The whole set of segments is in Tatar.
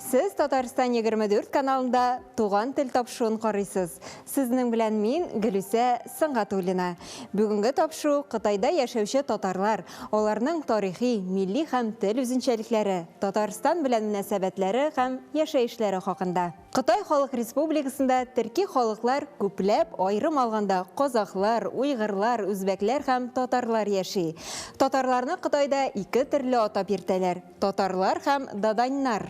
Сез Татарстан 24 каналында Туган тел тапшуын карыйсыз. Сезнең белән мин, Гөлүсә Сөнгатуллина. Бүгенге тапшу Кытайда яшәүче татарлар, аларның тарихи, милли һәм тел үзенчәлекләре, Татарстан белән мөнәсәбәтләре һәм яшәешләре хакында. Кытай Халык Республикасында төрки халыклар күпләп, аерым алганда, казахлар, уйгырлар, үзбәкләр һәм татарлар яши. Татарларны Кытайда ике төрле атап йөртәләр. Татарлар һәм даданьнар.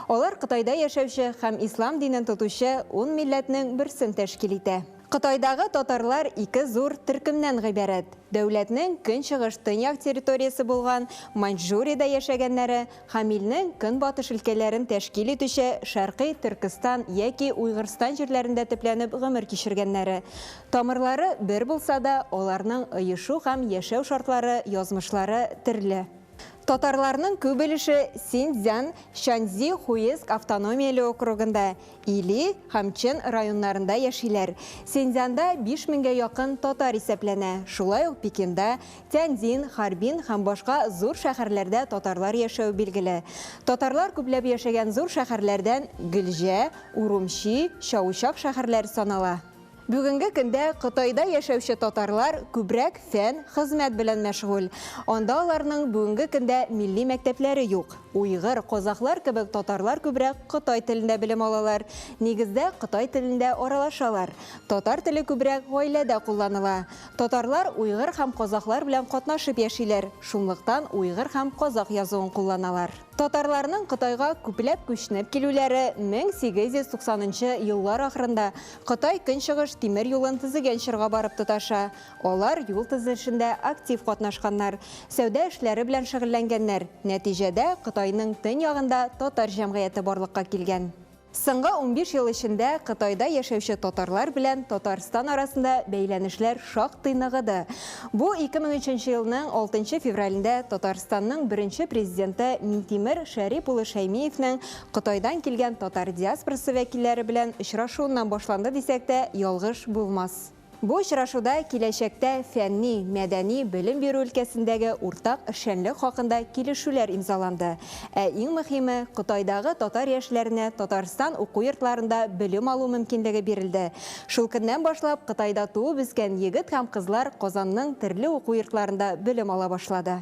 Алар Кытайда яшәүче һәм ислам динен тотучы ун милләтнең берсен тәшкил итә. Кытайдагы татарлар ике зур төркемнән гыйбарәт, дәүләтнең көнчыгыш-төньяк территориясе булган Маньчжуриядә яшәгәннәре һәм илнең көнбатыш өлкәләрен тәшкил итүче Шәркый Төркестан яки Уйгырстан җирләрендә төпләнеп гомер кичергәннәре. Тамырлары бер булса да, аларның оешу һәм яшәү шартлары, язмышлары төрле. Татарларның күп өлеше Синьцзян, Шаньси, Хуеск автономияле округында, Или һәм Чэн районнарында яшиләр. Синьцзянда биш меңгә якын татар исәпләнә, шулай ук Пекинда, Тяньцзин, Харбин һәм башка зур шәһәрләрдә татарлар яшәве билгеле. Татарлар күпләп яшәгән зур шәһәрләрдән Глҗә, Урумчи, Чаучак шәһәрләре санала. Бүгенге көндә Кытайда яшәүче татарлар күбрәк фән, хезмәт белән мәшгуль. Анда аларның бүгенге көндә милли мәктәпләре юк. Уйгыр, казахлар кебек татарлар күбрәк кытай телендә белем алалар. Нигездә кытай телендә аралашалар. Татар теле күбрәк гаиләдә кулланыла. Татарлар уйгыр һәм казахлар белән катнашып яшиләр, шунлыктан уйгыр һәм казах язуын кулланалар. Татарларның Кытайга күпләп күчнеп килүләре 1890 нчы еллар ахырында Кытай-Көнчыгыш тимер юлын төзегән чорга барып тоташа. Алар юл төзелешендә актив катнашканнар, сәүдә эшләре белән шөгыльләнгәннәр. Нәтиҗәдә Кытайның төньягында татар җәмгыяте барлыкка килгән. Соңгы унбиш ел эчендә Кытайда яшәүче татарлар белән Татарстан арасында бәйләнешләр шактый ныгыды. Бу 2003 елның алтынчы февралендә Татарстанның беренче Президенты Минтимер Шәрип улы Шәймиевнең Кытайдан килгән татар диаспорасы вәкилләре белән очрашуыннан башланды дисәк тә ялгыш булмас. Бу очрашуда киләчәктә фәнни, мәдәни, белем бирү өлкәсендәге уртак эшчәнлек хакында килешүләр имзаланды. Ә иң мөхиме, Кытайдагы татар яшьләренә Татарстан уку йортларында белем алу мөмкинлеге бирелде. Шул көннән башлап Кытайда туып-үскән егет һәм кызлар Казанның төрле уку йортларында белем ала башлады.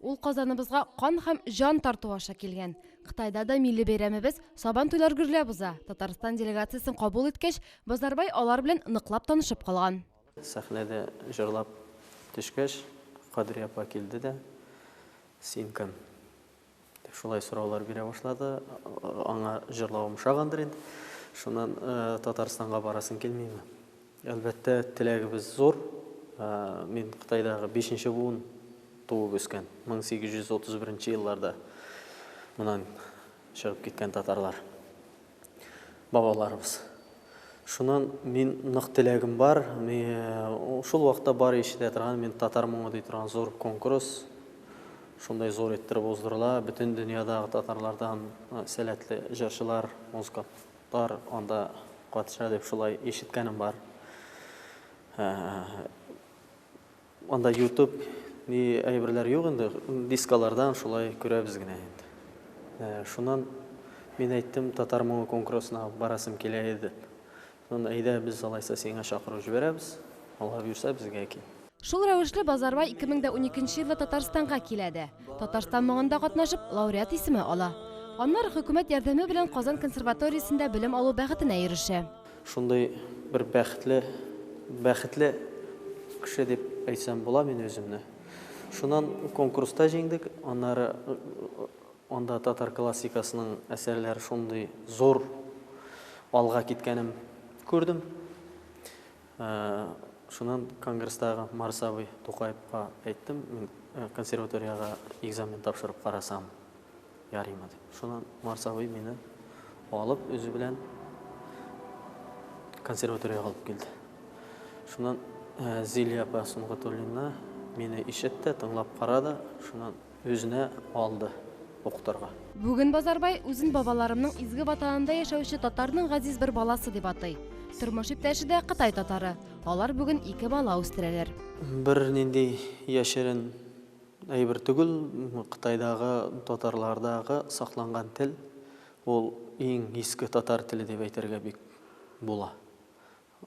Ул Казаныбызга кан һәм җан тарту аша килгән. Кытайда да милли бәйрәмебез Сабан туйлар гөрләп уза. Татарстан делегациясен кабул иткәч, Базарбай алар белән ныклап танышып калган. Сәхнәдә җырлап төшкәч, Кадрия апа килде дә, Син кем? дип шулай сораулар бирә башлады. Аңа җырлавым ошагандыр инде. Шуннан, Татарстанга барасың килмиме? Әлбәттә, теләгебез зур. Мин Кытайдагы бишенче буын, туып үскән, 1831 нче елларда моннан чыгып киткән татарлар, бабаларыбыз. Шуннан мин нык теләгем бар, шул вакытта бары ишетә торган мин Татар моңы ди торган зур конкурс, шундай зур иттереп уздырыла, бөтен дөньядагы татарлардан сәләтле җырчылар, музыка Тар анда катыша дип шулай ишеткәнем бар. Анда ютуб ни әйберләр юк инде, дискалардан шулай күрәбез генә инде. Шуннан мин әйттем, татар моңы конкурсына барасым килә иде. Шуннан әйдә без алайса сиңа чакыру җибәрәбез, алар бирсә безгә кил. Шул рәвешле Базарбай 2012 елда Татарстанга килә дә, Татарстан моңында катнашып, лауреат исеме ала. Аннары хөкүмәт ярдәме белән Казан консерваториясендә белем алу бәхетенә ирешә. Шундый бер бәхетле, бәхетле кеше дип әйтсәм була мин үземне. Шуннан конкурста җиңдек, аннары анда татар классикасының әсәрләре шундый зур алга киткәнен күрдем. Шуннан конгресстагы Марс абый Тукаевка әйттем, мин консерваториягә экзамен тапшырып карасам ярыймы дип. Шуннан Марс абый мине алып үзе белән консерваториягә алып килде. Шуннан Зилия апа Сөнгатуллина мине ишет тә, тыңлап кара да, шуннан Үзенә алды укытырга. Бүген Базарбай үзен бабаларымның изге Ватанында яшәүче татарның газиз бер баласы дип атый. Тормыш иптәше дә Кытай татары. Алар бүген ике бала үстерәләр. Бернинди яшерен әйбер түгел, Кытайдагы татарлардагы сакланган тел, ул иң иске татар теле дип әйтергә бик була.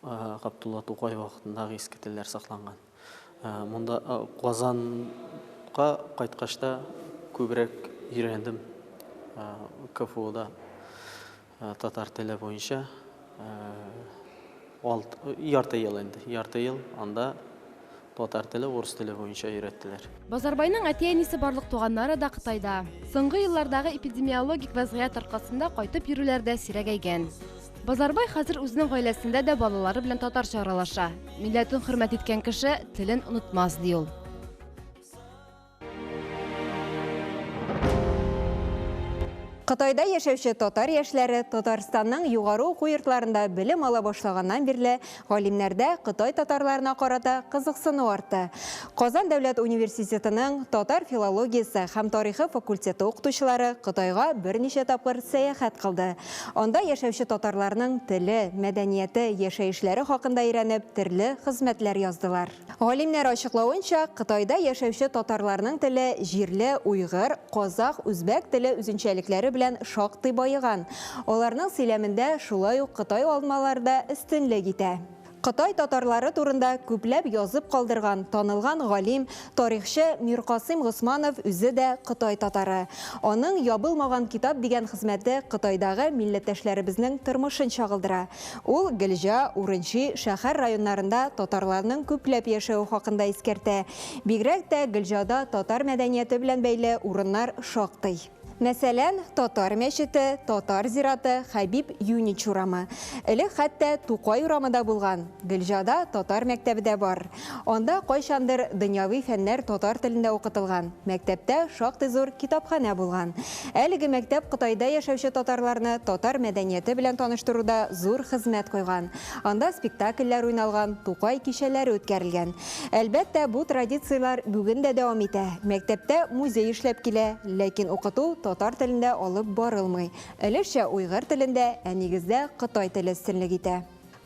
Габдулла Тукай вакытындагы иске телләр сакланган. Монда Казанга кайткач та күбрәк өйрәндем КФУда татар теле буенча. Ярты ел инде, ярты ел анда Татар теле урыс теле буенча өйрәттеләр. Базарбайның әти-әнисе барлык туганнары да Кытайда. Соңгы еллардагы эпидемиологик вәзгыять аркасында кайтып йөрүләр дә сирәгәйгән. Базарбай хәзер үзенең гаиләсендә дә балалары белән татарча аралаша. Милләтен хөрмәт иткән кеше телен онытмас, ди ул. Кытайда яшәүче татар яшьләре Татарстанның югары уку йортларында белем ала башлаганнан бирле галимнәрдә Кытай татарларына карата кызыксыну артты. Казан дәүләт университетының татар филологиясе һәм тарихы факультеты укытучылары Кытайга берничә тапкыр сәяхәт кылды. Анда яшәүче татарларның теле, мәдәнияте, яшәешләре хакында өйрәнеп, төрле хезмәтләр яздылар. Галимнәр ачыклавынча, Кытайда яшәүче татарларның теле җирле уйгыр, казах, үзбәк теле үзенчәлекләре белән шактый баеган. Аларның сөйләмендә шулай ук кытай алмалары да өстенлек итә. Кытай татарлары турында күпләп язып калдырган танылган галим, тарихчы Миркасыйм Госманов үзе дә кытай татары. Аның Ябылмаган китап дигән хезмәте Кытайдагы милләттәшләребезнең тормышын чагылдыра. Ул Гөлҗа, Урынчи, шәһәр районнарында татарларның күпләп яшәве хакында искәртә. Бигрәк тә Гөлҗада татар мәдәнияте белән бәйле урыннар шактый. Мәсәлән, Татар мәчете, Татар зираты, Хәбиб Юнич урамы. Элек хәтта Тукай урамы да булган. Гөлҗада татар мәктәбе дә бар. Анда кайчандыр дөньяви фәннәр татар телендә укытылган, мәктәптә шактый зур китапханә булган. Әлеге мәктәп Кытайда яшәүче татарларны татар мәдәнияте белән таныштыруда зур хезмәт куйган. Анда спектакльләр уйналган, Тукай кичәләре үткәрелгән. Әлбәттә, бу традицияләр бүген дә дәвам итә. Мәктәптә музей эшләп килә, ләкин укыту татар телендә алып барылмый. Өлешчә уйгыр телендә, ә нигездә кытай теле өстенлек итә.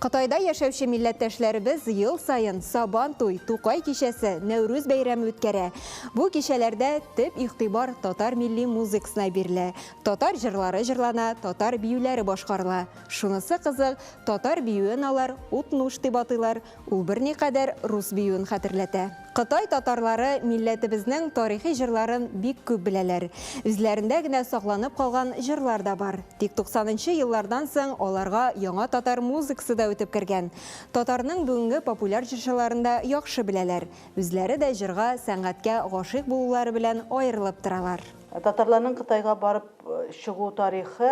Кытайда яшәүче милләттәшләребез ел саен Сабан туй, Тукай кичәсе, Нәүрүз бәйрәме үткәрә. Бу кичәләрдә төп игътибар татар милли музыкасына бирелә, татар җырлары җырлана, татар биюләре башкарыла. Шунысы кызык, татар биюен алар Утнуш дип атыйлар, ул берникадәр рус биюен хәтерләтә. Кытай татарлары милләтебезнең тарихи җырларын бик күп беләләр. Үзләрендә генә сакланып калган җырлар да бар. Тик туксанынчы еллардан соң аларга яңа татар музыкасы да үтеп кергән. Татарның бүгенге популяр җырчыларын да яхшы беләләр. Үзләре дә җырга, сәнгатькә гашыйк булулары белән аерылып торалар. Татарларның Кытайга барып чыгу тарихы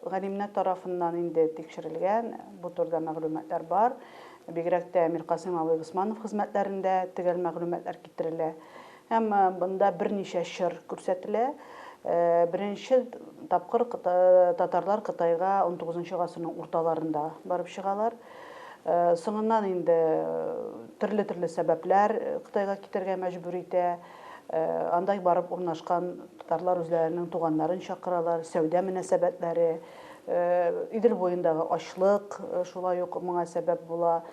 галимнәр тарафыннан инде тикшерелгән, бу турыда мәгълүматлар бар. Бигрәк тә Миркасыйм абый Госманов хезмәтләрендә төгәл мәгълүматлар китерелә һәм монда берничә чор күрсәтелә. Беренче тапкыр татарлар Кытайга унтугызынчы гасырның урталарында барып чыгалар. Соңыннан инде төрле-төрле сәбәпләр Кытайга китәргә мәҗбүр итә. Анда барып урнашкан татарлар үзләренең туганнарын чакыралар, сәүдә мөнәсәбәтләре, Идел буендагы ачлык шулай ук моңа сәбәп була.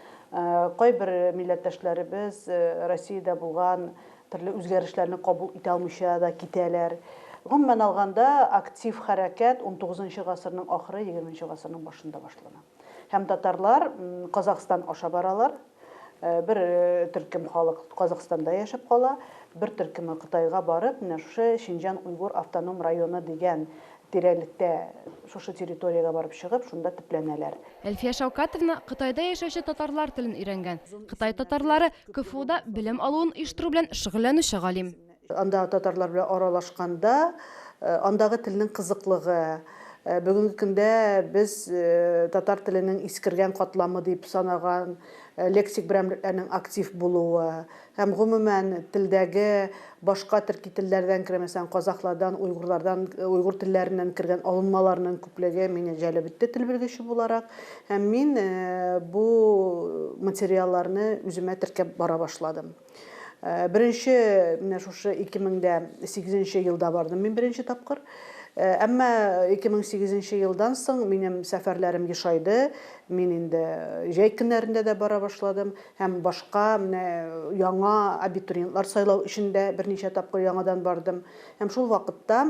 Кайбер милләттәшләребез Россиядә булган төрле үзгәрешләрне кабул итә алмыйча да китәләр. Гомумән алганда, актив хәрәкәт унтугызынчы гасырның ахыры, егерменче гасырның башында башлана. Һәм татарлар Казахстан аша баралар. Э, бер э, төркем халык Казахстанда яшәп кала, бер төркеме Кытайга барып, менә шушы Шинҗан Уйгур автоном районы дигән тирәлектә шушы территориягә барып чыгып, шунда төпләнәләр. Әлфия Шаукатовна Кытайда яшәүче татарлар телен өйрәнгән. Кытай татарлары КФУда белем алуын оештыру белән шөгыльләнүче галим. Анда татарлар белән аралашканда, андагы телнең кызыклыгы, бүгенге көндә без татар теленең искергән катламы дип санаган лексик берәмлекләрнең актив булуы һәм гомумән телдәге башка төрки телләрдән кергән, мәсәлән, казахлардан, уйгурлардан, уйгур телләреннән кергән алынмаларның күплеге мине җәлеп итте тел белгече буларак. Һәм мин бу материалларны үземә теркәп бара башладым. Э, беренче менә шушы 2008 елда бардым мин беренче тапкыр э, әмма 2008 елдан соң минем сәфәрләрем ешайды мин инде җәй көннәрендә дә бара башладым һәм башка менә яңа абитуриентлар сайлау өчен дә берничә тапкыр яңадан бардым һәм шул вакытта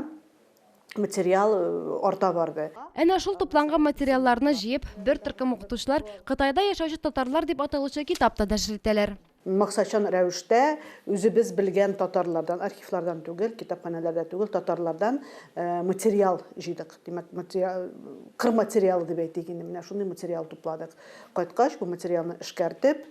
материал э, арта барды Әнә шул тупланган материалларны җыеп, бер төркем укытучылар Кытайда яшәүче татарлар дип аталучы китап та нәшер итәләр. Максатчан рәвештә үзебез белгән татарлардан, архивлардан түгел, китапханәләрдә түгел, татарлардан материал җыйдык. Димәк, кыр материалы дип әйтик инде, менә шундый материал тупладык. Кайткач, бу материалны эшкәртеп,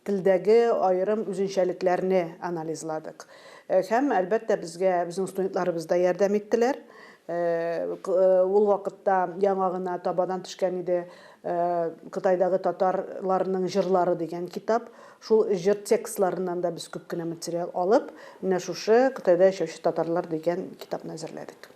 телдәге аерым үзенчәлекләрне анализладык. Һәм, әлбәттә, безгә безнең студентларыбыз да ярдәм иттеләр. Ул вакытта яңа гына табадан төшкән иде Кытайдагы татарларның җырлары дигән китап. Шул җыр текстларыннан да без күп кенә материал алып, менә шушы Кытайда яшәүче татарлар дигән китапны әзерләдек.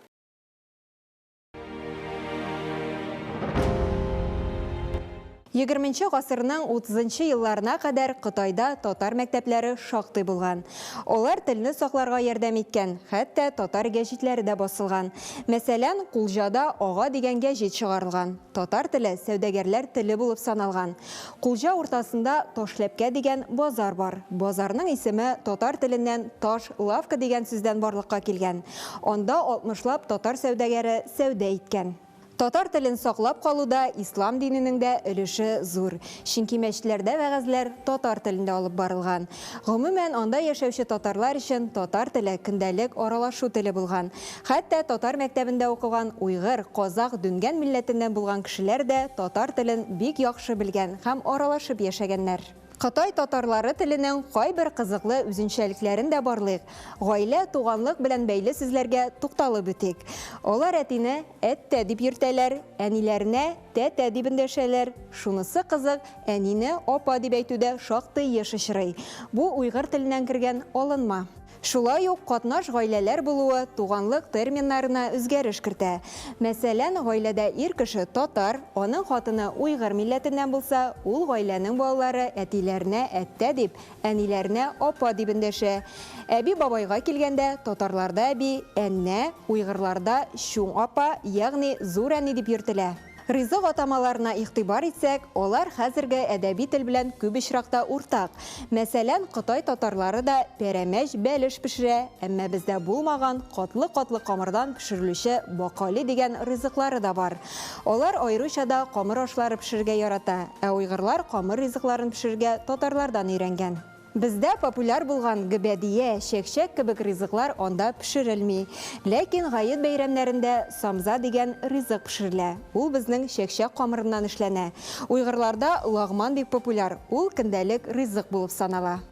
Егерменче гасырның утызынчы елларына кадәр Кытайда татар мәктәпләре шактый булган. Алар телне сакларга ярдәм иткән, хәтта татар гәҗитләре дә басылган. Мәсәлән, Кулҗада Ага дигән гәҗит чыгарылган. Татар теле сәүдәгәрләр теле булып саналган. Кулҗа уртасында Ташләпкә дигән базар бар. Базарның исеме татар теленнән таш лавка дигән сүздән барлыкка килгән. Анда алтмышлап татар сәүдәгәре сәүдә иткән. Татар телен саклап калуда ислам диненең дә өлеше зур. Чөнки мәчетләрдә вәгазьләр татар телендә алып барылган. Гомумән, анда яшәүче татарлар өчен татар теле көндәлек аралашу теле булган. Хәтта татар мәктәбендә укыган уйгыр, казах, дүнгән милләтеннән булган кешеләр дә татар телен бик яхшы белгән һәм аралашып яшәгәннәр. Кытай татарлары теленең кайбер кызыклы үзенчәлекләрен дә барлыйк, гаилә, туганлык белән бәйле сүзләргә тукталып үтик. Алар әтине Әттә, дип йөртәләр, әниләренә тәтә дип эндәшәләр. Шунысы кызык, әнине апа дип әйтү дә шактый еш очрый. Бу уйгыр теленнән кергән алынма. Шулай ук катнаш гаиләләр булуы туганлык терминнарына үзгәреш кертә. Мәсәлән, гаиләдә ир кеше татар, аның хатыны уйгыр милләтеннән булса, ул гаиләнең балалары әтиләренә әттә дип, Әниләренә апа дип эндәшә. Әби-бабайга килгәндә, татарларда әби, әннә, уйгырларда чуң апа, ягъни зур әни дип йөртелә. Ризык атамаларына игътибар итсәк, алар хәзерге әдәби тел белән күп очракта уртак. Мәсәлән, кытай татарлары да пәрәмәч, бәлеш пешерә, әмма бездә булмаган, катлы-катлы камырдан пешерелүче бакали дигән ризыклары да бар. Алар аеруча да камыр ашлары пешерергә ярата, ә уйгырлар камыр ризыкларын пешерергә татарлардан өйрәнгән. Бездә популяр булган гөбәдия, чәкчәк кебек ризыклар анда пешерелми. Ләкин гает бәйрәмнәрендә самза дигән ризык пешерелә. Ул безнең чәкчәк камырыннан эшләнә. Уйгырларда лагман бик популяр, ул көндәлек ризык булып санала.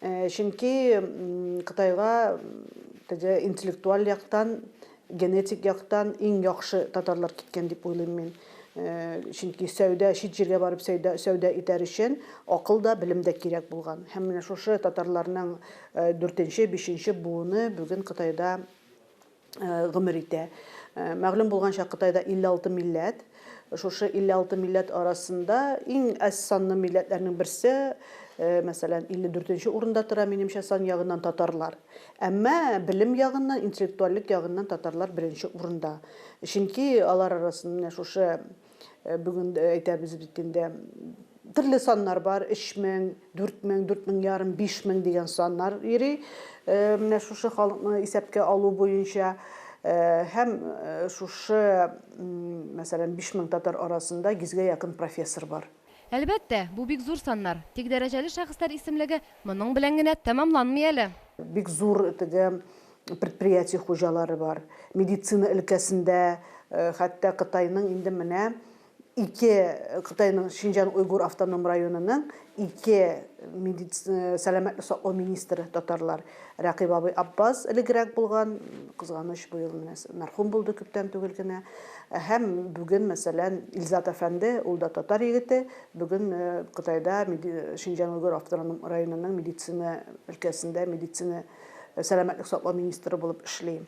Э, чөнки Кытайга теге интеллектуаль яктан, генетик яктан иң яхшы татарлар киткән дип уйлыйм мин. Э, чөнки сәүдә чит җиргә барып сәүдә сәүдә итәр өчен акыл да, белем дә кирәк булган. Һәм менә шушы татарларның 4-5 э, буыны бүген Кытайда гомер итә. Мәгълүм булганча, Кытайда 56 милләт. Шушы 56 милләт арасында иң әз санлы милләтләрнең берсе, мәсәлән, 54 нче урында тора, минемчә, сан ягыннан татарлар. Әмма белем ягыннан, интеллектуальлек ягыннан татарлар беренче урында. Чөнки алар арасында менә шушы Э, бүген э, әйтәбез бит инде төрле саннар бар 3000 4000 4000 ярым 5000 дигән саннар йөри э, менә шушы халыкны исәпкә алу буенча һәм шушы мәсәлән 5000 татар арасында 100 гә якын профессор бар Әлбәттә, бу бик зур саннар, тик дәрәҗәле шәхесләр исемлеге моның белән генә тәмамланмый әле. Бик зур теге предприятие хуҗалары бар. Медицина өлкәсендә хәтта Кытайның инде менә ике Кытайның Шинҗан-Уйгур автоном районының ике сәламәтлек саклау министры татарлар. Рәкыйп абый Аппаз элегрәк булган, кызганыч бу ел менә мәрхүм булды күптән түгел генә. Һәм бүген, мәсәлән, Илзат әфәнде, ул да татар егете, бүген Кытайда Шинҗан-Уйгур автоном районының медицина өлкәсендә медицина Сәламәтлек саклау министры булып эшли.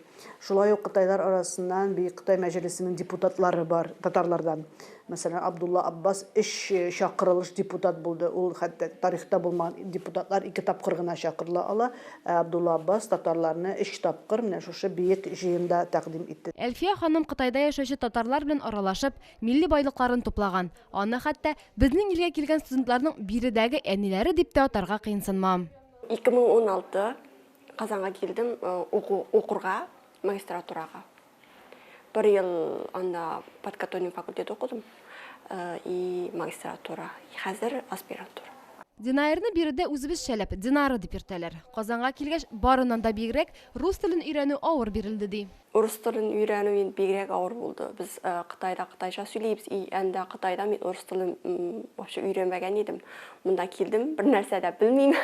Шулай ук кытайлар арасыннан Бөек Кытай мәҗлесенең депутатлары бар, татарлардан. Мәсәлән, Абдулла Аббас өч чакырылыш депутат булды. Ул хәтта тарихта булмаган депутатлар ике тапкыр гына чакырыла ала. Ә Абдулла Аббас татарларны өч тапкыр менә шушы биек җыенда тәкъдим итте. Әлфия ханым Кытайда яшәүче татарлар белән аралашып, милли байлыкларын туплаган. Аны хәтта, безнең илгә килгән студентларның биредәге әниләре дип тә атарга кыенсынмам. 2016 Казанга килдем уку укырга, магистратурага. Бер ел анда подкатоним факультет укыдым и магистратура. Хәзер аспирантура. Динаерны биредә үзебезчә ләп Динара дип йөртәләр. Казанга килгәч, барыннан да бигрәк рус телен өйрәнү авыр бирелде, ди. Урыс телен өйрәнү инде бигрәк авыр булды. Без Кытайда кытайча сөйлибез, и әндә Кытайда мин урыс телен вообще өйрәнмәгән идем. Монда килдем, бер нәрсә дә белмим.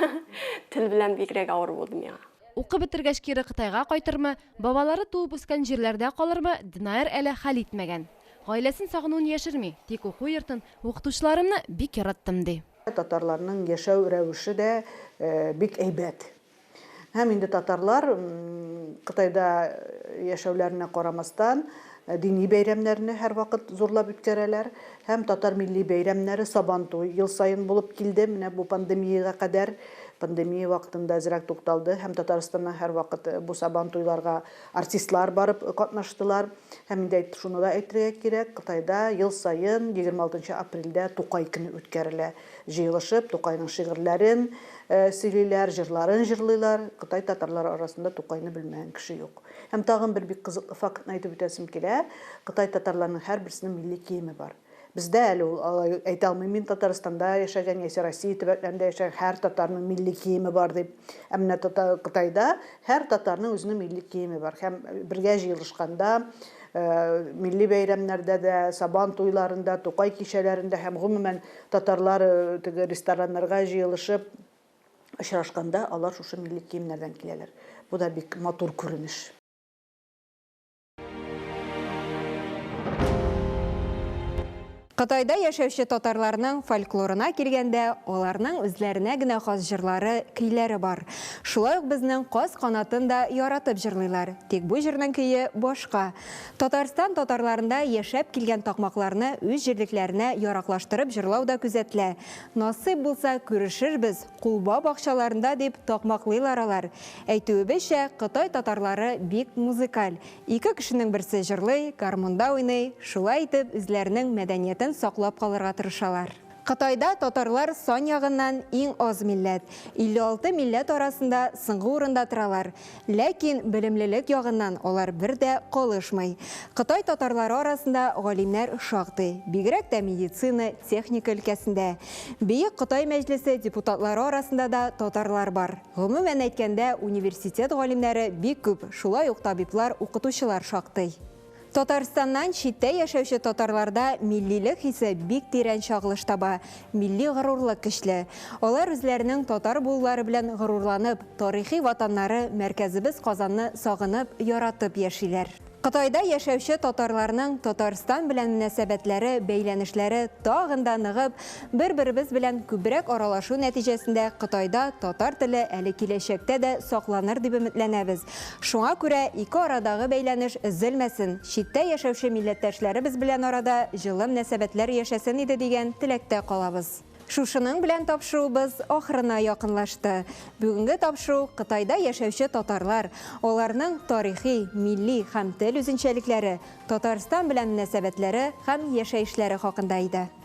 Тел белән бигрәк авыр булды миңа. Укып бетергәч кире Кытайга кайтырмы, бабалары туып үскән җирләрдә калырмы, Динаер әле хәл итмәгән. Гаиләсен сагынуын яшерми, тик уку йортын, укытучыларымны бик яраттым, ди. Татарларның яшәү рәвеше дә бик әйбәт. Һәм инде татарлар Кытайда яшәүләренә карамастан, дини бәйрәмнәрне һәрвакыт зурлап үткәрәләр. Һәм татар милли бәйрәмнәре Сабантуй ел саен булып килде, менә бу пандемиягә кадәр. Пандемия вакытында әзрәк тукталды, һәм Татарстаннан һәрвакыт бу Сабантуйларга артистлар барып катнаштылар. Һәм инде шуны да әйтергә кирәк, Кытайда ел саен 26 апрельдә Тукай көне үткәрелә. Җыелышып, Тукайның шигырьләрен сөйлиләр, җырларын җырлыйлар. Кытай татарлары арасында Тукайны белмәгән кеше юк. Һәм тагын бер бик кызыклы фактны әйтеп үтәсем килә, Кытай татарларының һәрберсенең милли киеме бар. Бездә әле ул, алай әйтә алмыйм мин, Татарстанда яшәгән яисә Россия төбәкләрендә яшәгән һәр татарның милли киеме бар дип. Ә менә Кытайда һәр татарның үзенең милли киеме бар. Һәм бергә җыелышканда, милли бәйрәмнәрдә дә, Сабан туйларында, Тукай кичәләрендә һәм, гомумән, Татарлар теге рестораннарга җыелышып очрашканда, алар шушы милли киемнәрдән киләләр. Бу да бик матур күренеш. Кытайда яшәүче татарларның фольклорына килгәндә, аларның үзләренә генә хас җырлары, көйләре бар. Шулай ук безнең Каз канатын да яратып җырлыйлар, тик бу җырның көе башка. Татарстан татарларында яшәп килгән такмакларны үз җирлекләренә яраклаштырып җырлау да күзәтелә. Насыйп булса, күрешербез, Кулба бакчаларында дип такмаклыйлар алар. Әйтүебезчә, Кытай татарлары бик музыкаль. Ике кешенең берсе җырлый, гармунда уйный, шулай итеп үзләренең мәдәниятен саклап калырга тырышалар. Кытайда татарлар сан ягыннан иң аз милләт, 56 милләт арасында соңгы урында торалар. Ләкин белемлелек ягыннан алар бер дә калышмый. Кытай татарлары арасында галимнәр шактый, бигрәк тә медицина, техника өлкәсендә. Бөек Кытай мәҗлесе депутатлары арасында да татарлар бар. Гомумән әйткәндә, университет галимнәре бик күп, шулай ук табиблар, укытучылар шактый. Татарстаннан читтә яшәүче татарларда миллилек хисе бик тирән чагылыш таба, милли горурлык көчле. Алар үзләренең татар булулары белән горурланып, тарихи ватаннары, мәркәзебез Казанны сагынып, яратып яшиләр. Кытайда яшәүче татарларның Татарстан белән мөнәсәбәтләре, бәйләнешләре тагын да ныгып, бер-беребез белән күбрәк аралашу нәтиҗәсендә Кытайда татар теле әле киләчәктә дә сакланыр дип өметләнәбез, Шуңа күрә ике арадагы бәйләнеш өзелмәсен, читтә яшәүче милләттәшләребез белән арада җылы мнәсәбәтләр яшәсен иде дигән теләктә калабыз. Шушының белән тапшыруыбыз ахырына якынлашты. Бүгенге тапшыру Кытайда яшәүче татарлар, аларның тарихи, милли һәм тел үзенчәлекләре, Татарстан белән мнәсәбәтләре һәм яшәешләре хакында иде.